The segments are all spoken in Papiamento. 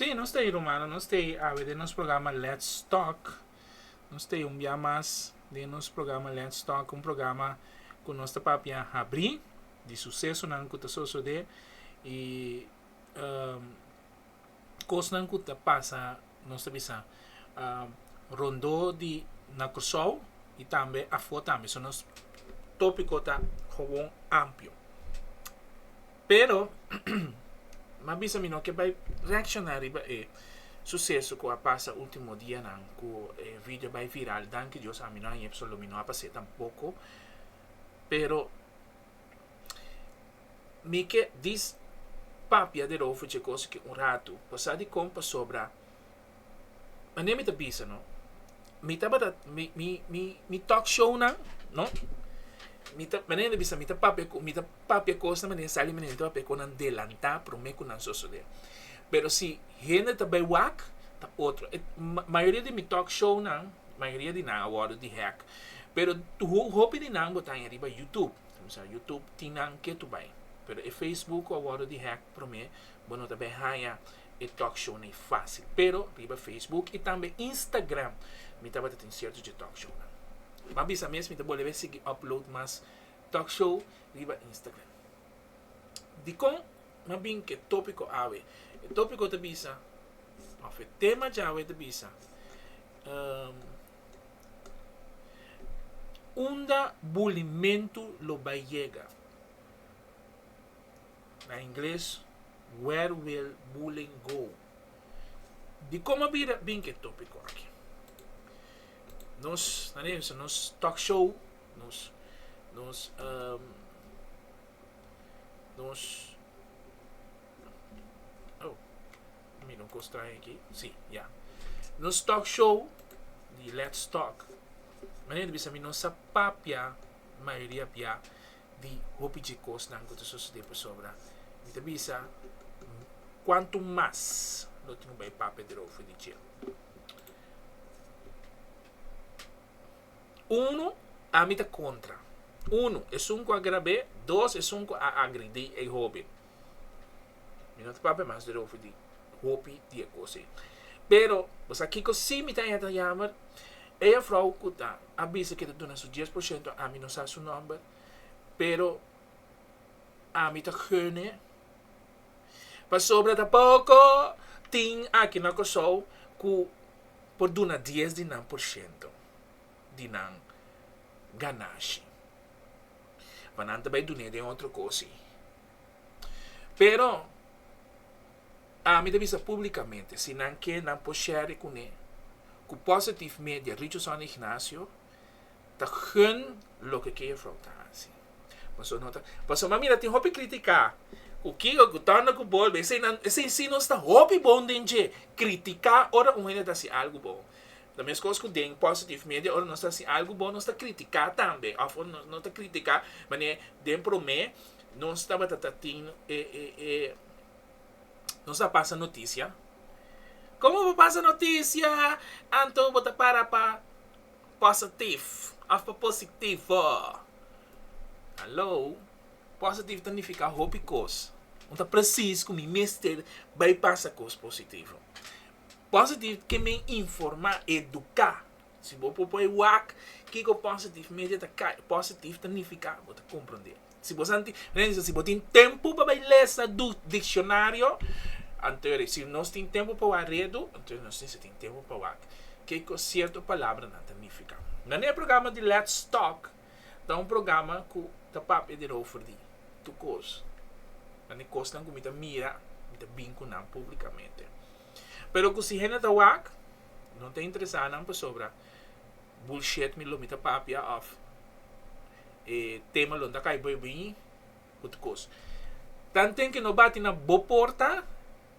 Sí, nos t'ei rumano, nos t'ei awe den nos programa Let's Talk. Nos t'ei un bia mas den nos programa Let's Talk, un programa ku nos ta papia habri di susesonan ku ta sosodé i cosnan cu ta pasa nos ta bisa rondo di na Curaçao y tambe afo tambe so nos topico ta gewoon amplio pero m'a bisa mi no ke bay reacciona riba e suceso cu a pasa ultimo dianan cu e video bay viral danki Dios ami no a yeb so lo mi no a pase tampoco pero. Mi ke dis papia di Rofo dje kos aki un ratu, pasá di kon pasobra mane mi ta bisa no, mi tabata mi talk shownan no, mi ta mane mi ta bisa mi ta papia mi ta papia kosnan mane mi sali mane mi ta papia kosnan delantá prome ku nan sosodé pero si hende ta bai wak ta otro mayoria di mi talk shownan mayoria di nan a wòrdu di hèk. Pero hopi di nan bo ta aña riba YouTube, ta bisa YouTube tin nan ke tu bai, pero e Facebook cu a wordo di hack prome bo no ta bay haña e talkshownan ey facil, pero riba Facebook y tambe Instagram mi tabata tin cierto dje talkshownan. Mi a bisa mes mi ta bolebe sigui upload mas talkshow riba Instagram. Dicon mi a bin cu e topico awe? E topico ta bisa of e tema djawe ta bisa. Unda bulimentu lo bai yega? Na ingles, Where Will Bullying Go? Di kon a bira bin ku e topiko aki? Nos ta na bisa nos talk show, nos nos nos. Mi no cos trae aki, si, ya. Nos talk show di Let's Talk. Manera di bisa mi no sa papia mayoria bia di hopi dje cosnan cu ta sucede pasobra mi ta bisa cuanto mas lo tin cu bay papia derover di dje. Uno ami ta contra, uno esun cu a grabe, dos esun cu a agredi e hoben. Mi no ta papia mas dorover di hopi di e kos ei. Pero, bo sa kiko si mi ta henter yammer? E juffrouw ku ta a bisa ke ta duna su dies por shento, ami no sa su nòmber, pero ami ta gene pasobra ta poko tin aki na Kòrsou ku por duna dies di nan por shento di nan ganashi. pa nan ta bai dun'é den otro cosi. Pero ami ta bisa públicamente si nan ke nan por share cun'é cu Positive Media Richard Sony Ignacio ta gun loke ke juffrouw ta haci. Pasobra no ta, pasobra mi mira tin hopi critica cu kico cu torna cu bolbe esei nan esei si nos ta hopi bon den dje critica ora un hende ta haci algo bon Ta meskos ku den Positive Media ora nos ta hasi algu bon nos ta kritiká tambe òf ora nos ta kritiká manera den promé nos tabata ta tin e e nos ta pasa notisia Komo bo pasa notisia anto bo ta para pa positif òf pa positivo Haló positif ta nifiká hopi kos un ta presis ku mi mester bai pasa kos positivo. Positive ke men informa, eduka. Si bo por poi wak kiko positive media ta kai, positive ta nifiká bo ta kompronde. Si bo santi, nan bisa si bo tin tempu pa bai lesa dikshonaryo, anto ri. Si nos tin tempu pa wak redu, anto nos tin sa tin tempu pa wak kiko sierto palabranan ta nifiká. Na e programa di lèt stòk. Ta un programa ku ta papia di rover di tukos, nan e kosnan ku mi ta mira, mi ta bin ku nan públikamente. Pero ku si hende ta wak, no ta interesá nan pasobra bulshet mi lo mi ta papia òf e tema lo mi ta kai bai biñi ku tukos. Tanten ku no bati na bo porta.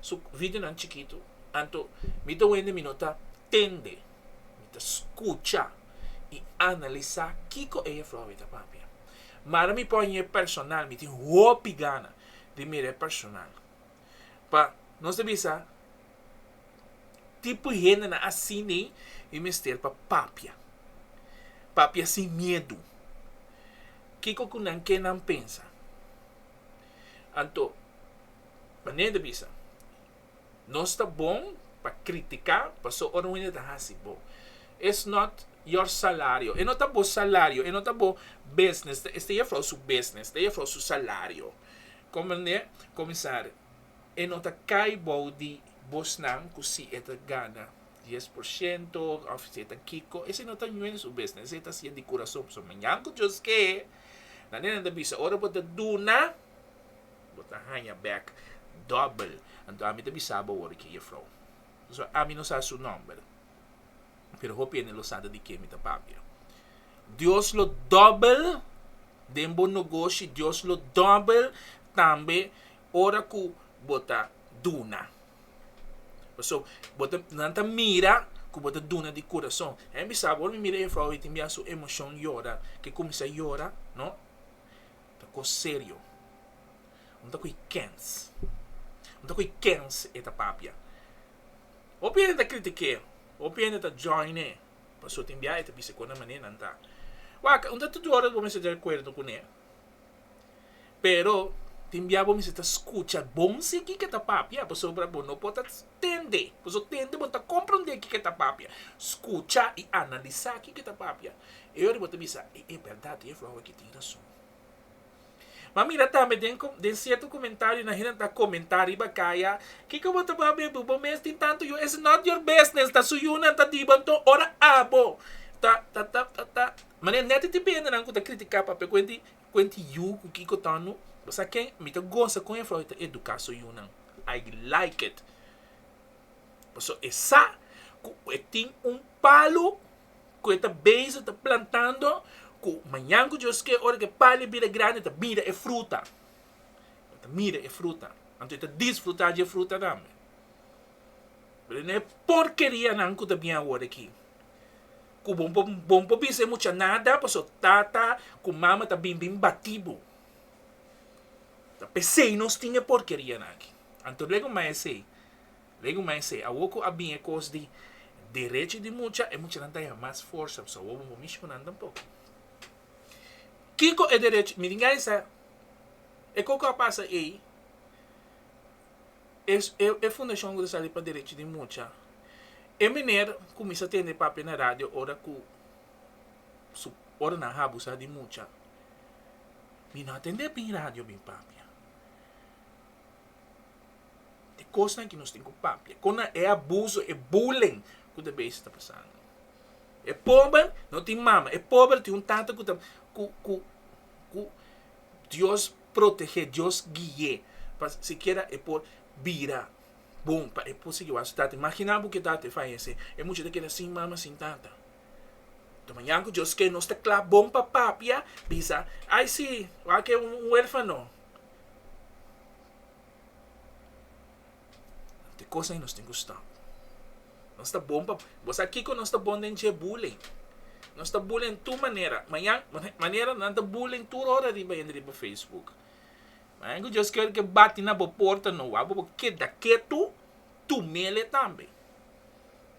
Su videonan chikitu, anto mi ta wende mi no ta tende, mi ta skucha i analisá kiko e Flor mi ta papia. Ma ara mi pòin e personal, mi tin hopi gana di mira e personal. Pa nos ta bisa tipo hendenan asini mi mester pa papia, papia sin miedu kiko ku nan ke nan pensa. Anto. Manera di bisa, Nos ta bon pa kritika paso ora un hende ta hasi bo. It's not your salario. E no ta bo salario. E no ta bo business. Esta e jefrouw su business. Esta e jefrouw su salario. Comprende? Comenzar, e no ta kai bou di bosnan cu si e ta gana dies por ciento of si e ta kico. Esei no ta ñuez su business. Esei e ta haci'e di curason. Pasobra mañan cu Dios kee, manera nan ta bisa, ora bo ta duna, Bo ta haña bèk dòbel. Anto ami ta bisa bo wòrdu ki e jefrou. So, ami no sa su nòmber, pero hopi hende lo sa ta di ke mi ta papia. Dios lo dòbel den bo nogoshi. Dios lo dòbel tambe ora ku bo ta duna. Pasobra bo ta, nan ta mira ku bo ta duna di kurason. Ami bisa bo, ora mi mira e jefrou tin bia su emoshon yora, ke kuminsá yora, no. ta cos serio. Un ta cu y kens. Un ta cu y kens e ta papia. Hopi hende ta critique, hopi hende ta joine, paso tin bia e ta bisa cona mane nan ta. Wak, un ta tur ora bo mester ta de acuerdo cu ne, pero tin bia bo mester ta scucha bon sigui ke ta papia, pasobra bo no por ta. Tende. Pasobra tende bo ta komprondé kiko ta papia. Skucha i analisá kiko ta papia. E ora bo ta bisa, E e bèrdat ku e aflorá aki tin rason. M'a mira tambe den den sierto komentario nan hende ta komentá riba kaya, Kiko bo ta baha bebu? Bo mes tin tantu yu. It's not your business. Ta su yunan, ta diba. Anto ora abo ta ta ta ta ta. Mane nèt e ti bendenan ku ta kritiká papia kuenti. Kuenti yu ku kiko tono? Bo sa ken? Mi ta gosa kon e for e ta eduká su yunan. I like it. Paso e sa ku e tin un palu ku e ta bezi ta plantando ku mañan ku Dios ke ora ku e palu a bira grandi e ta mira e fruta. E ta mira e fruta. Anto e ta disfrutá dje fruta tambe. Pero no e porkerianan ku ta bian awor aki. ku bo bon por bisa e mucha nada paso tata ku mama ta bin bin batí bo. Ta p'esei nos tin e porkerianan aki. Anto luego mai esei, luego mai esei. Awor ku a bin e kos di derechi di mucha, e muchanan ta yaha mas forsa paso awor bo bon mishi ku nan tampoko. Kiko e derechi, mi tin gana di sa e kon ku a pasa ei. e fundashon ku ta sali pa derechi di mucha. E mener kuminsá tende papia na radio ora ku su ora nan habusá di mucha. Mi no a tende bin radio bin papia. E kosnan ku nos tin ku papia, kon na e abuso, e bulling ku ta bes ta pasando. E pober no tin mama, e pober tin un tata ku ta ku ku ku Dios protegé, Dios gui'é pa sikiera e por bira bon pa e por sigui wak su tata. Imaginá bo ku e tata a fayesé, e mucha ta keda sin mama, sin tata. Ta mañan ku Dios ke nos ta kla bon pa papia, bisa, Ai si, wak e un huérfano. te cosa nos tin cu stop. Nos ta bon pa, bo sa kico nos ta bon den dje bullying? Nos ta bullying den tur manera. Mañan, manera nan ta bullying tur ora riba hende riba Facebook. Mañan cu Dios ker ke bati na bo porta no wak bo, bo keda ketu, tu mele tambe.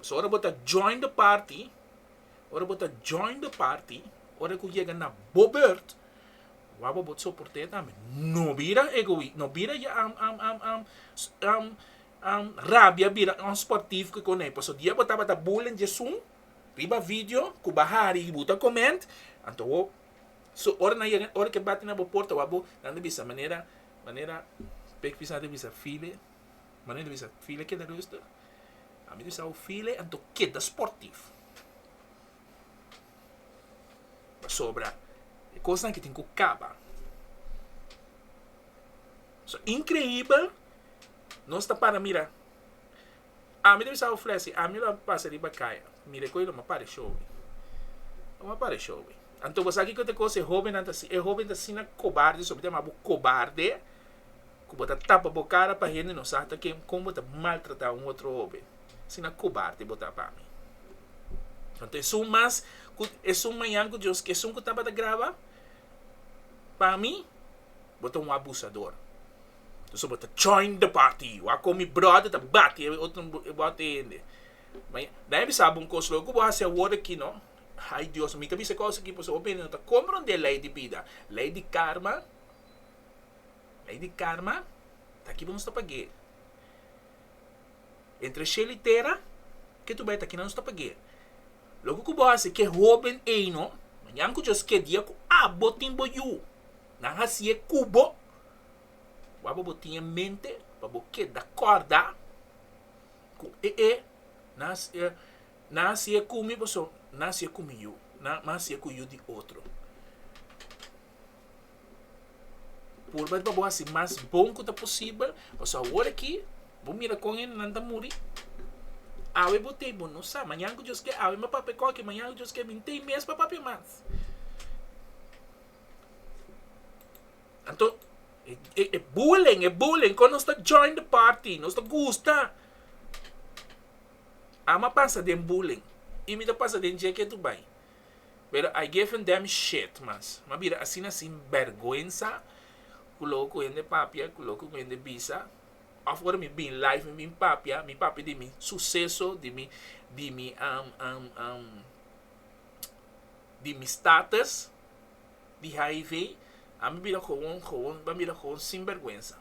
So ora bo ta join de party, ora bo ta join de party, ora cu yega na bo beurt, Wou bo bot soporté tambe. No bira egoista, no bira ya rabia bira un sportivo ke konai. Paso dia bo tabata bullen Jesús riba video ku bo a hari i bo ta koment, anto wou so ora nan yega, ora ke bati na bo porta wou a bo nan ta bisa manera, manera pek fis nan ta bisa file, manera ta bisa file keda rustig. Ami ta bisa wou file anto keda sportivo. Pasobra e kosnan aki tin ku kaba. So, inkreibel, nos ta para mira. Ami ta bisa Ofrè si ami lo pasa riba kaya, mira e kos ei lo mapa di shobi. Lo mapa di shobi. Anto bo sa kiko ta kos e hobennan ta asina kobarde, someter bo kobarde. ku bo ta tapa bo kara pa hende no sa ta ken kon bo ta maltratá un otro hobe. Asina kobarte bo ta pa mi. Anto esun mas ku esun mañan ku Dios, ku esun ku tabata graba, pa mi bo ta un abusador. Entonces bo ta join the party. Wak kon mi bròder ta bati e otro bòt e hende. Maña, dai bisa bo un kos, lo ku bo hasi awor aki no, hay Dios, mi ta bisa e kos aki pasobra hopi hende no ta kompran dje lei di bida, lei di karma. Lei di karma ta kiba nos ta pag'é. Entre shel i tera, ke tur bai ta kina nos ta pag'é. Loke ku bo hasi ke hoben eino, mañan ku Dios ke dia ku abo tin bo yu, nan hasié ku bo, bo aba bo tin e mente pa bo keda kòrda ku e'e nan hasié nan hasié ku mi pasobra nan hasié ku mi yu, nan hasié ku yu di otro. Purba riba bo hasi mas bon ku ta posibel, pasobra awor aki bo mira kon hendenan ta muri. Awe bo tei, bo no sa mañan ku Dios ke awe mi a papia kon aki, mañan ku Dios ke mi no tei mes pa papia mas. Anto e bullying, e bullying kon nos ta join the party, nos ta gusta. Ama pasa den bullying i mi ta pasa den dje ke tur bai. pero I gave a damn shit mas mi a bira asina sin bergwensa ku loke ku hende papia ku loke ku hende bisa of ora mi bin live mi bin papia mi papia di mi suseso di mi di mi um um um di mi status di hiv a mi bira kowon kowon mi a bira kowon sin bergwensa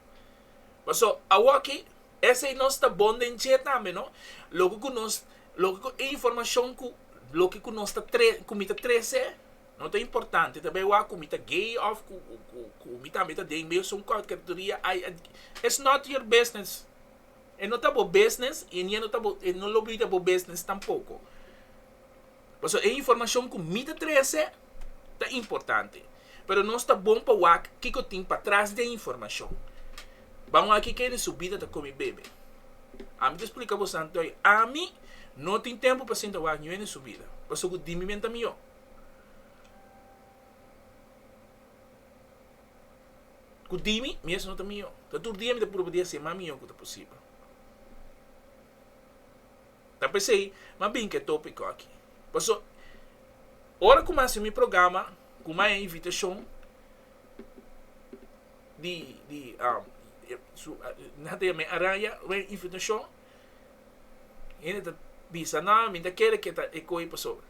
paso awoki Esei nos ta bon den dje tambe, no? Loke ku nos, loke ku e informashon ku, loke ku nos ta tre, ku mi ta trese, no ta importante ta behua ku mi ta gay òf ku, ku, ku mi tambe ta den mesun kategoria, ai, ai, it's not your business. E no ta bo business i e no ta bo, e no lo bida bo business tampoko. Pasobra e informashon ku mi ta trese ta importante. Pero nos ta bon pa wak kiko tin patras di e informashon. Ban wak ke kende su bida ta komi bebe. Ami ta splika bo santu ei, ami no tin tempu pa sinta wak niun hende su bida, pasobra ku di mi men ta mihó. Ku di mi mes no ta mihó. Ta tur dia mi ta purba di hasi e mas mihó ku ta posibel. Ta p'esei mi a binca e topico aki. Paso, ora cu mi a haci mi programa, cu mi a haña invitacion di, di, nan ta yam'e Araya, mi a haña invitacion, hende ta bisa, no, mi ta kere cu ta e coge pasobra.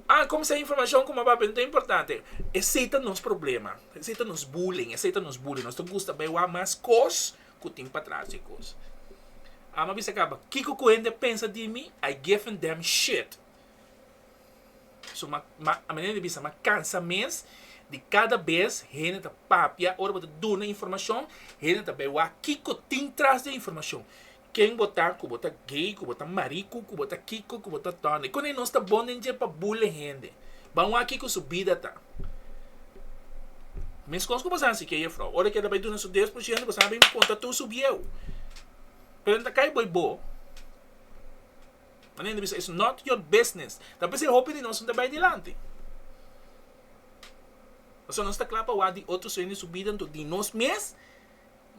A cuminsá informacion cu mi a bai bini ta importante. Esei ta nos problema, esei ta nos bullying, esei ta nos bullying. Nos ta gusta bai wak mas cos ku tin patras e kos. Alma bisa kaba, Kiko ku hende a pensa di mi? I give a damn shit! So, ma, ma, manera di bisa, ma kansa mes di kada bes hende ta papia ora bo ta duna informashon, hende ta bai wak kiko tin tras di e informashon. Ken bo ta, ku bo ta gay, ku bo ta mariku, ku bo ta kiko, ku bo ta done. Kon ei nos ta bon den dje pa bule hende? Ban wak kiko su bida ta. Meskos ku bo sa si ke jefrouw, ora ke ta bai duna su deus por ciento, bo sa bin konta tur su bieu. Pero nan ta kai bai bo. Manera nan ta bisa it's not your business. Ta p'esei hopi di nos no ta bai dilanti. Pasobra nos ta kla pa wak di otro sueño den su bida, anto di nos mes,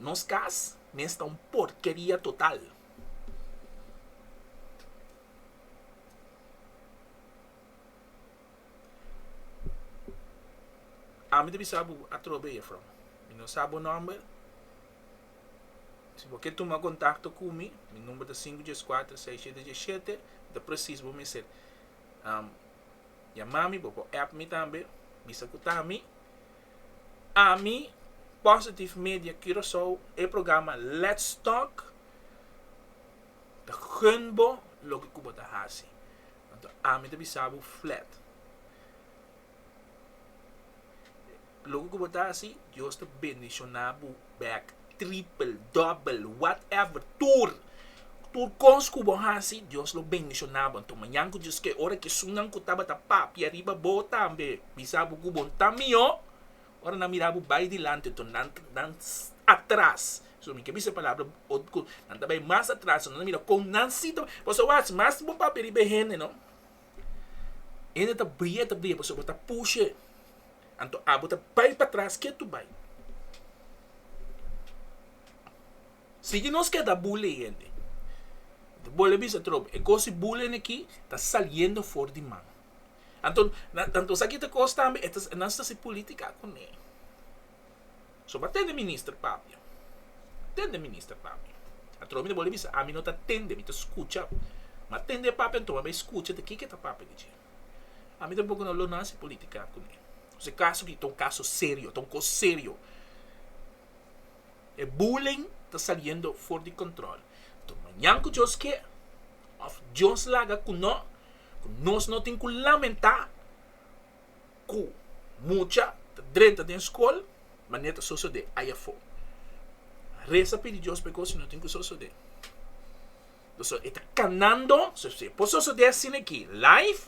nos kas mester ta un porkeria total. Ami ta bisa bo atrobe, jefrouw. Mi no sa bo nòmber. Si bo ke tuma kontakto ku mi, mi number ta sinku dies kuater sei shete dies shete, ta presis bo mester yama mi, bo por èp mi tambe, bisa ku ta mi. Ami, Positive Media Curacao, e programa Let's Talk ta gun bo loke ku bo ta hasi. Anto ami ta bisa bo flat. Loke ku bo ta hasi, Dios ta bendishoná bo bèk tripel, dòbel, whatever, tur. Tur kos ku bo hasi, Dios lo bendishoná bo. Anto mañan ku Dios kee, ora ki esunnan ku tabata papia riba bo tambe bisa bo ku bon ta mihó, Ora nan mira bo bai dilanti to nan nan atras so mi ke bisa e palabra otko nan ta bai mas atras nan ta mira kon nan si ta bai paso wach mas bo papia riba e hende no hende ta bria ta bria pasobra bo ta pushe anto abo ta bai patras ke tu bai sigui nos keda bule hende bolbe bisa trob e kosi bulene ki ta saliendo for di man. Anto nan tanto esaki ta cos tambe e ta nan ta haci politica cune so bo a tende minister papia a tende minister papia atrobe mi ta bolbe bisa ami no ta tende mi ta scucha mi a tende e papia anto mi a bay scucha te kiko ta papia dichi ami tampoco no lo nan haci politica cune si acaso aki ta un caso serio ta un cos serio e bulling ta saliendo for di control anto mañan cu Dios kier of Dios laga cu no. ku nos no tin ku lamentá ku mucha ta drenta den skol manera ta sosodé ai afó. Resa pidi Dios pa e kos no tin ku sosodé. Pasobra e ta kanando, si e por sosodé asina aki live,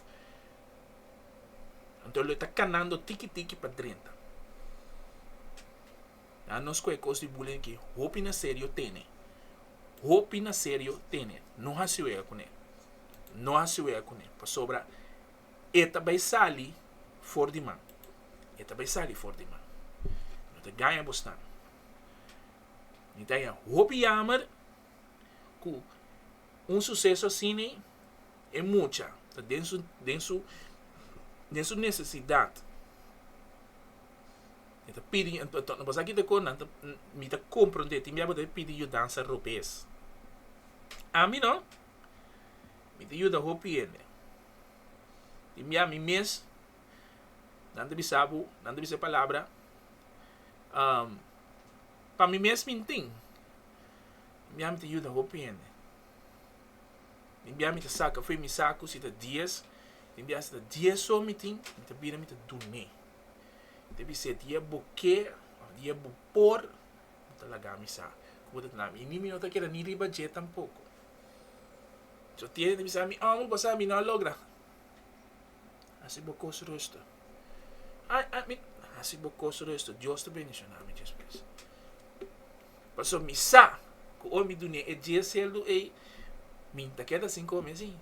anto lo e ta kanando tiki tiki pa drenta. Nan nos cu e cos di bullying aki hopi na serio tene. Hopi na serio tene. No haci wega cu ne. No haci wega cu ne. Pasobra e ta bay sali for di man. E ta bay sali for di man. No ta gaya bo snan. Mi ta yama. Hopi yamer cu un suceso asina e mucha ta den su, den su, den su necesidad. E ta pidi, no basa kita ku nan ta, mi ta komprende, tin bia bo ta e pidi yudansa robes. Ami no, mi ta yuda hopi hende. Tin bia mi mes, nan ta bisa bo, nan ta bisa e palabra, pa mi mes mi tin, tin bia mi ta yuda hopi hende. Tin bia mi ta saka fe, mi sa ku si ta dies, tin bia si ta dies so mi tin, mi ta bira mi ta dun'é. Te bis'é, di e bo ke, òf di e bo por, bo ta laga mi sa. Ku bo ta tende ami? I mi, mi no ta keda ni riba dje tampoko. Si bo tiene, ta bisa mi, Ò, mi pasá, mi no a logra. Hasi bo kos rustu. Ai, ai, mi, hasi bo kos rustu. Dios ta bendishoná mi despues. Paso mi sa cu oi mi dune e dies celdo ey, mi ta keda sin come si.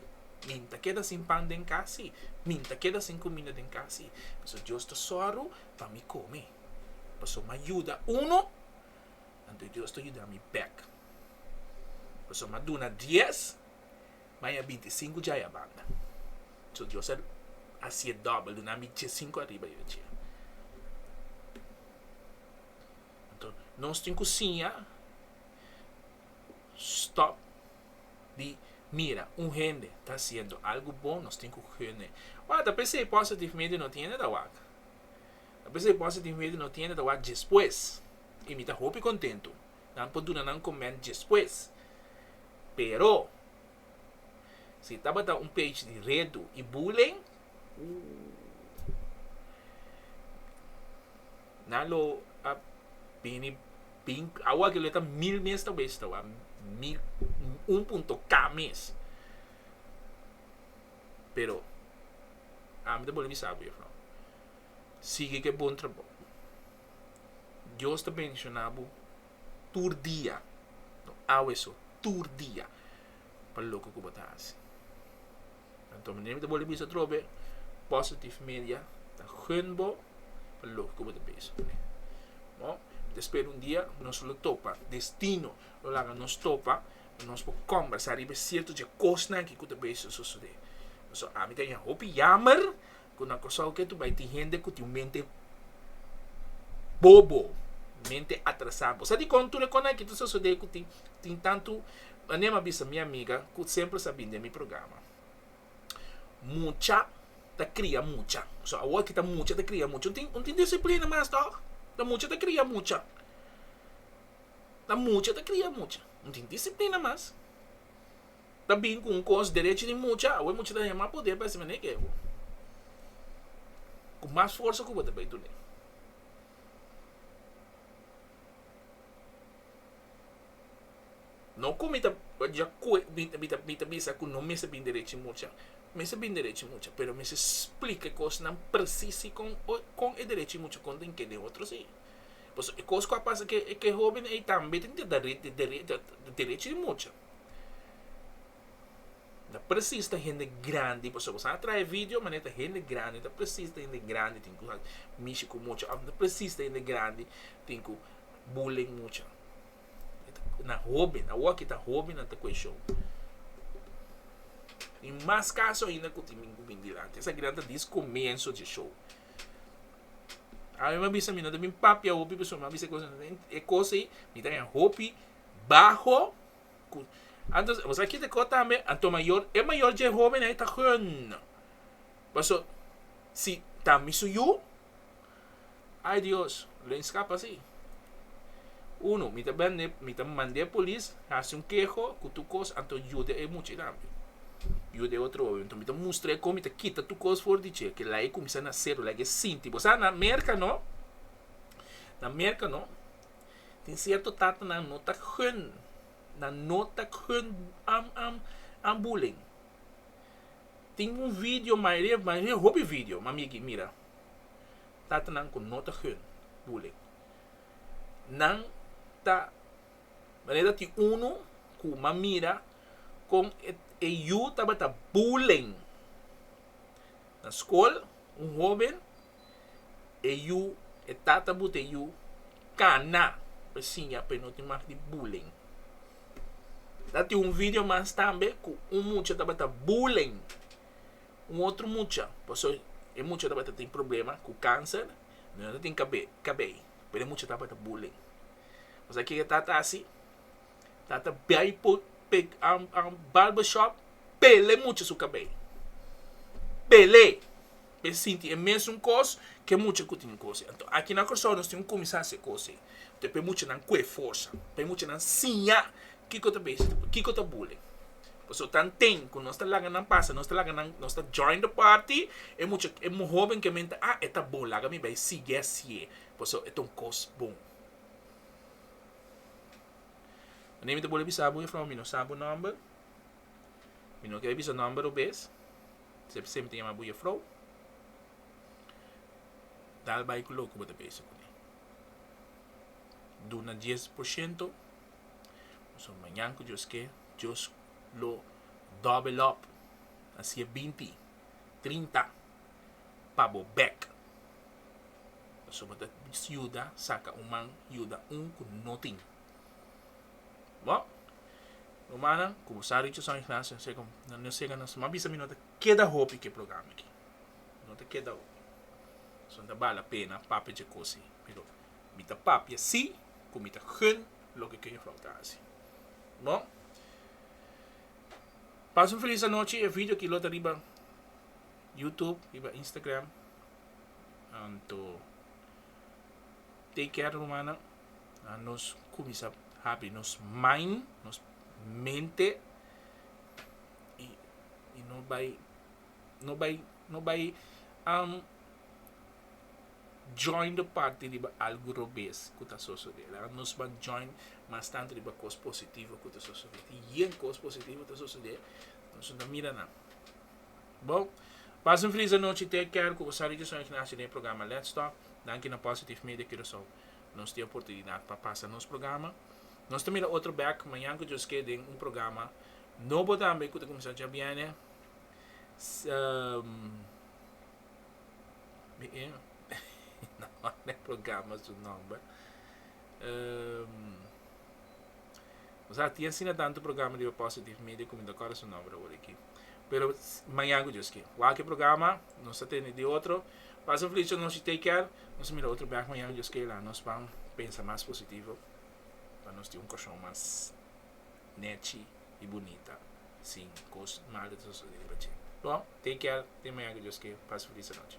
Mi ta keda sin pan den cas si. Mi ta keda sin cuminda den cas si. Paso Dios ta zorgo pa mi come. Paso m'a yuda uno, anto Dios ta yuda mi bek. Paso m'a duna dies, m'a haya binti i cinco djaya banda. So Dios a haci'e dobel, dunami djiesinco ariba dje. Anto nos tin ku siña stòp di mira un hende ta hasiendo algu bon, nos tin ku hende wak. Ta p'esei positivmente no tiende ta wak. Ta p'esei positivamente no tiende ta wak despues. I mi ta hopi kontentu nan por duna nan komènt despues. Pero, si tabata un page di redu i bullying, ooh. Nan lo a bini bin awa ke lo e ta mil mes ta wes tawa mil un punto ka mes pero ami ta bole bisa bo yefrouw sigui ku e bon trabou dios ta bendiciona bo tur dia no awe so tur dia pa loke ku bo ta hasi. Anto manera mi ta bolbe bisa atrobe, Positive Media ta gun bo pa loke ku bo ta bisa. No? Mi ta spera un dia nos lo topa, destino lo laga nos topa, pa nos por kòmbersá riba e sierto dje kosnan akí ku ta bisa sosodé. Pasobra ami ta haña hopi yammer. ku na Kòrsou ke tur bai tin hende ku tin un mente bobo, mente atrasá. Bo sa dikon tur e kona aki ta sosodé ku tin tin tantu anema a bisa mi amiga ku semper sa bini den mi programa. Mucha ta kria mucha. So awor aki ta mucha ta kria mucha. No tin disiplina mas tòg. Ta mucha ta kria mucha. Ta mucha ta kria mucha. No tin disiplina mas. ta bin cu un cos derecho di mucha awe mucha ta yama poder pa esey manera ego cu mas forsa cu bo ta bay tuni no cu mi ta mi ta bisa cu no mester bin derecho di mucha mester bin derecho di mucha pero mester splica e cosnan precies con con e derecho di mucha con tin ke den otro si pasobra e cos cu a pasa cu e joven ey tambe tin derecho di mucha. Ta presis ta hende grandi pasobra sa a traha e video manera ta hende grandi ta presis ta hende grandi tin ku mishi ku mucha ato ta presis ta hende grandi tin ku bullying mucha na hoben awo aki ta hobennan ta kueshon i mas kaso ainda ku tin ku bin di ato esaki nan ta dis komenso di e show a mi a bisa mi no ta bin papia hopi pasobra mi a bisa e kos ei mi ta haña hopi baho cu Anto bo sa kit aco tambe anto mayor e mayor dje hoben ey ta gun paso si ta mi su yu ay Dios lo a escapa asi uno mi ta bende mi ta mande polis haci un keho cu tur cos anto yuda e muchaey tambe yuda e otro hoben anto mi ta mustrae con mi ta kita tur cos for di dje kila ey cuminsa na cero lague sinti bo sa na merca no na merca no Tin sierto tatanan no ta gun, nan no ta gun am am am bullying. Tin un video mayoria mayoria hopi video mami e ki mira. Tatanan ku no ta gun bullying. Nan ta manera tin unu ku m'a mira kon e e yu tabata bullying na skol, un hoben e yu e tata but e yu kana pa e siña pa e no tin mas di bullying ta tin un video mas tambe ku un mucha tabata bullying un otro mucha pasobra e mucha tabata tin problema ku kanser y no tin kabei kabei pero e mucha tabata bullying u sa ke e tata a hasi tata bai por barber shop pela e mucha su kabei pele e sinti e mesun kos ke mucha ku tin kos ei. Anto aki na Kòrsou nos tin ku kuminsá hasi e kos ei. Anto e p'e muchanan kue forsa, p'e muchanan siña kiko ta beishi tu, kiko ta bullying. Pasobra tan ten ku nos ta laga nan pasa, nos ta laga nan, nos ta join the party, e mucha, e hoben ke menta, ah e ta bon, laga mi bai sigui hasié, pasobra e ta un kos bon. Mi ta wòlda bisa bo, Jufrou, mi no sa bo nòmber. Mi no ker bisa nòmber robes, se bo sempri ta yama bo jefrou, tal bai ku loke bo ta bisa kuné. Duna dies por shento, pasobra mañan ku Dios ke, Dios lo dòbelòp, a siña binti, trinta pa bo bèk. Pasobra ta yuda saka un man yuda un ku no tin. Bo, rumannan, ku bo sa richio San Ignacio, asina ku nan no sega nos, mas bisa mi no ta keda hopi ku e programa aki. No ta keda hopi. So no ta bala pena papia dje kosi. Pero mi ta papia sí ku mi ta gun loke ku e Jufrouw ta hasi. Bo, pas un felis anochi. E vidio aki lo ta riba YouTube, riba Instagram. Anto, take care rumannan. nos cuminsa habri nos mind, nos mente y y no bay no bay no bay um join de parti riba algo robes cu ta sosode la nos ban join mas tanto riba cos positivo cu ta sosode tin yen cos positivo ta sosode nos no ta mira nan bon Bas en Friz anochi te Kerko bo sabi cu son Ignacio den e programa Let's talk danki na Positive Media Curacao. nos tin oportunidat pa pasa nos programa. Nos ta mira otro bek mañan cu djoskee den un programa nobo tambe cu ta cuminsa djabiene. Na manda e programa su nomber. Nos a tin asina tanto programa riba Positive Media cu mi no ta acorda su nomber awor aki. pero maña cu Dios kier. Wak e programa nos ta tene di otro pas un flecha nos di take care nos a mira otro bek maña cu Dios kier laga nos pan pensa mas positivo pa nos tin un corazon mas nechi y bunita sin cos malo ta sucede riba dje bo take care tin maña cu Dios kier pas un feliz anochi.